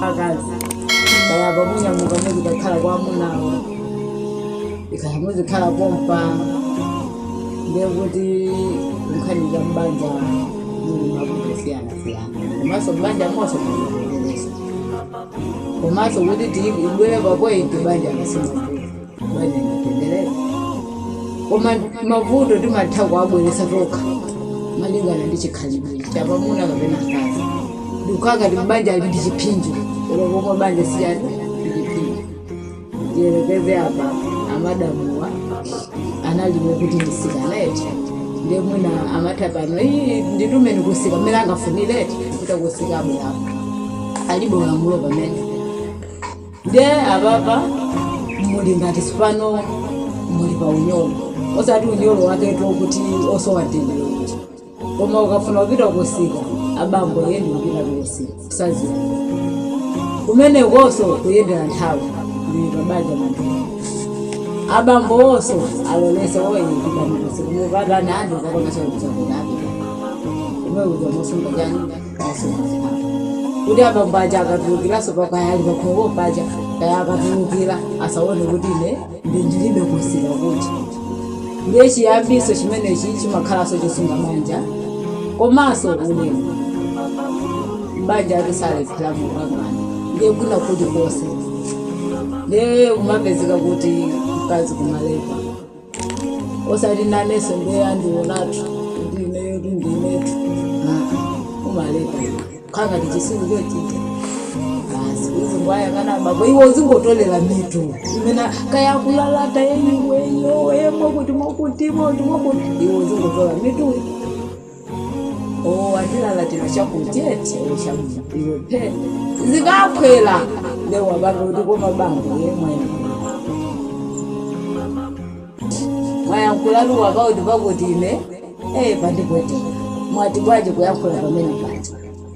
akazi kaya pamuna mukamuzi kakhala kwa amunawo mukamuzikhala pompa ndekuti nkhani za mbanja zili mavuto siyana siyana komanso mbanja monse mukuendeleza komanso kuti tibwere papointi banja kasima koma mavuto timatha kuwabweretsa tokha malingana ndi chikhalidwe chapamuna kapena mkazi ndikukaka ti banja ali ndi chiphinjo olo koma banja sichani ndi chiphinjo tiyerekeze apa amadamuwa analiwo kuti ndisikana eti ndiye mwina amatha pano iyi nditume kusika mmene angafunire eti kuti kusika abwerapo alibe ulamulo pamene Nde apapa muli ngati tsopano muli pa unyolo, osati unyolo waketo kuti osowa mtendere kuti, koma ukafuna kupita kusika abambo iye ndi kupitatu kusika kusadziwa kumenekoso kuyendera nthawi ndili pa banja mantha abambowoso alolese oh eh pitani kusika mukatani ah ndikukapanga chakudya chakuti ah pitani kumene kuja mosunga chani kuti abambo aja akatulukiranso pakaya ali pakhomo paja kaya akatulukira asaone kuti ine ndi ndilibe kusika kuja ndiye chiyambiso chimenechi chimakhalanso chosunga banja komanso ulemu banja ati salephera mukangana ndiye kwina kulikonse ndiye kumapezeka kuti mkazi kumalepha osati nanenso ndiye andionatu kuti ineyo tu ndinetu aa umaleka iwe khala ngati chisiru chochita basi uzingowayang'ana basi iwe uzingotolera mitu imeneyo kaya kulalata ee iweyo iwe kuti mwakuti mwe kuti mwakuti iwe uzingotola mitu oo azilalatira chakuti eti oo chakuti iwe phe zikaphwera nde wabanga kuti koma bambo yemwe mwayankhula muja pakuti pakuti ine ee pandipweteka mwati bwanji kuyankhula pamene paja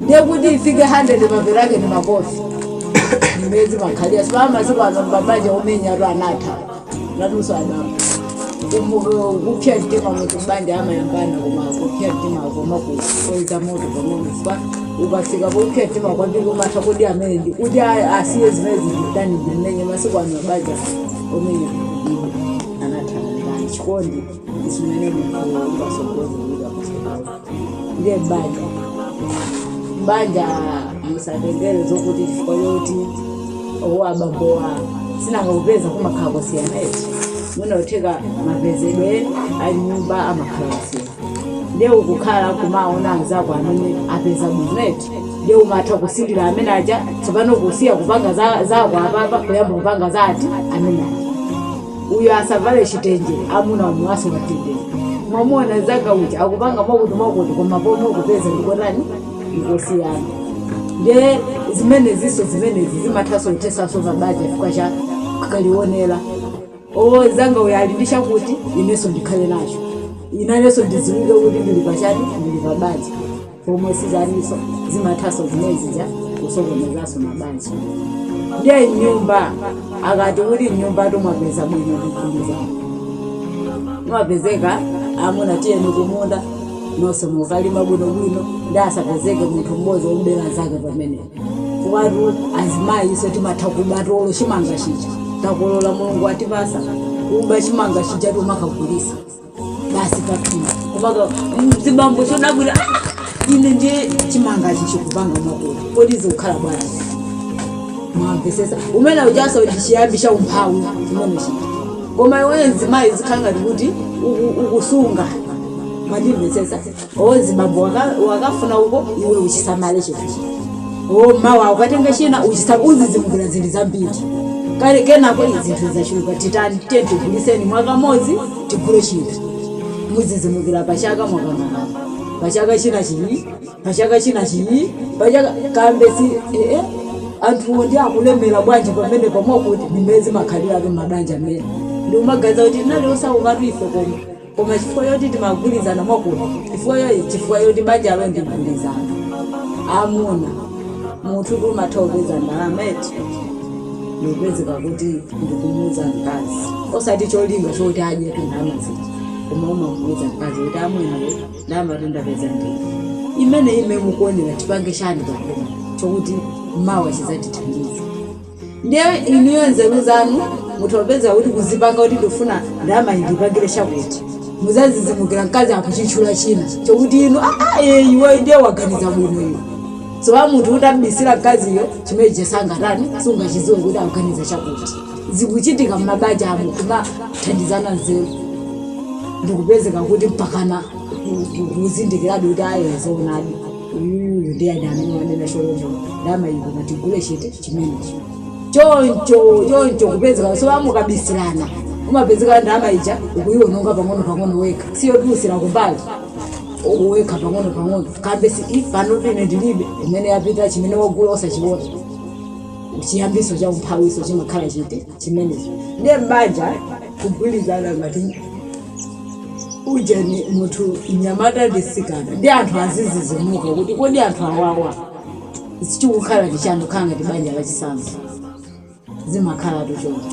ndiye kuti ifike 100 mapeto ake ndi makofi ndimene zimakhalira sipaa masiku ano mbamanja omenya atu anatha nanunso adama Kumu- kupsa mtima munthu mbanja amayambana koma kupsa mtima koma kusonkheza moto pang'ono pa ukafika popsa mtima kwambiri umatha kuti amene ndi kuti a- asiye zimene ndimutani ndimmenye masiku ano mabanja omenya anatha mbanja chikondi ndi chimene munthu ungasogozi ndiye banja banja musatengere zokuti chifukwa choti owo abambo wa si nanga kupeza kumakhala kusiyana eti mwina utheka mapezedwe a nyumba amakhala kusiyana ndiye ukukhala kumaona anzako amene apeza bwino eti ndiye umatha kusirira amene aja tsopano kusiya kupanga za- zako apapa kuyamba kupanga za uti amene aja Uyu asavale chitenje amuna omwe asamuchenjeze. Mwamuona nzanga uja akupanga mwakuti mwakuti koma pomwe kupeza ndikotani ndikosiyana. Ndiye zimenezinso zimenezi zimathanso kuthetsanso mabanja chifukwa cha kaonera. Owo nzanga uyu ali ndi chakuti inenso ndikhale nacho. Inenso ndidziwike kuti ndili pa chani, ndili pa banja. pomwe sizenizo zimathaso zimezija kusokonezanso mabanja ndiye m'nyumba akati kuti m'nyumba timapeza bwino ndikhumiza mapezeka amuna tiyeni kumunda nonse mukalima bwinobwino ndi asapezeke munthu mmodzi wobera nzake pamenepo kuwatu azimayi ifenso timatha kubatu olo chimanga chija takolola mulungu atipasa kuba chimanga chija timakagulisa basi pakutha kumaka azibambo chodabwa ine ndiye chimanga chi chikupanga makula kodi zikukhala bwanji mwamvesesa umene ujaso ndichiyambi cha umphawi chimene chija koma iweyo mzimayi zikhala ngati kuti uku- ukusunga mwandimvesesa azibambo waka- wakafuna uko iwe uchisamale chinthuchi o mawa ukatenga china uchisa uzizimukira zinthu zambiri kale kenako izi zinthu zachuluka titani tiye tiguliseni mwaka modzi tigule chinthu muzazizimukira pachaka mwakanakana pachaka china chii pachaka china chii pachaka kambe si ee anthuwo ndi akulemera bwanji pamene pamwakuti ndi mmene zimakhaliratu mabanja mmene ndi umaganiza kuti tinali osaukatu ife koma Koma chifukwa choti timagwirizana mwakuti chifukwa chifukwa choti banjalo ndi mgwirizano amuna munthu tu umatha kupeza ndalama eti ndikupezeka kuti ndikumuuza mkazi osati cholinga choti adye tu ndalama zija koma umamuuza mkazi kuti amwene iwe ndalama tu ndapeza ndi iyi imene ime mukuonera tipange chani pamene chokuti mawa chizatithandiza ndiye inuyo nzeru zanu mutha kupezeka kuti kuzipanga kuti ndikufuna ndalama indipangire chakuti muzazizimukira mkazi akutchula china chokuti inu aa iye iwe ndiye waganiza bwino iwe so munthu utamubisira mkaziyo chimene chija sangatani sungachidziwe kuti akuganiza chakuti zikuchitika m'mabanja amo kumathandizana nzeru ndikupezeka kuti mpakana ku- ku- kuzindikiradi kuti aye zoonadi Uyuyu ndiye ana amene wanena choncho ndalama iyo ngati tigule chakuti chimenecho choncho choncho kupezekaso mukabisirana umapezeka ndalama ija ukuyiwononga pang'ono pang'ono wekha osayitulutsira kumbali u- wekha pang'ono pang'ono kambe si i panopa ine ndilibe kumene yapita chimene wagula osachiona chiyambiso cha umphawiso chimakhala chiti chimenecho ndiye m'banja kugwirizana ngati ujeni munthu mnyamata ndi mtsikana ndi anthu azidzidzimuka kuti kodi anthu awawa chikukhala ndi chani kukhala ngati banja lachisanzo zimakhalatu choncho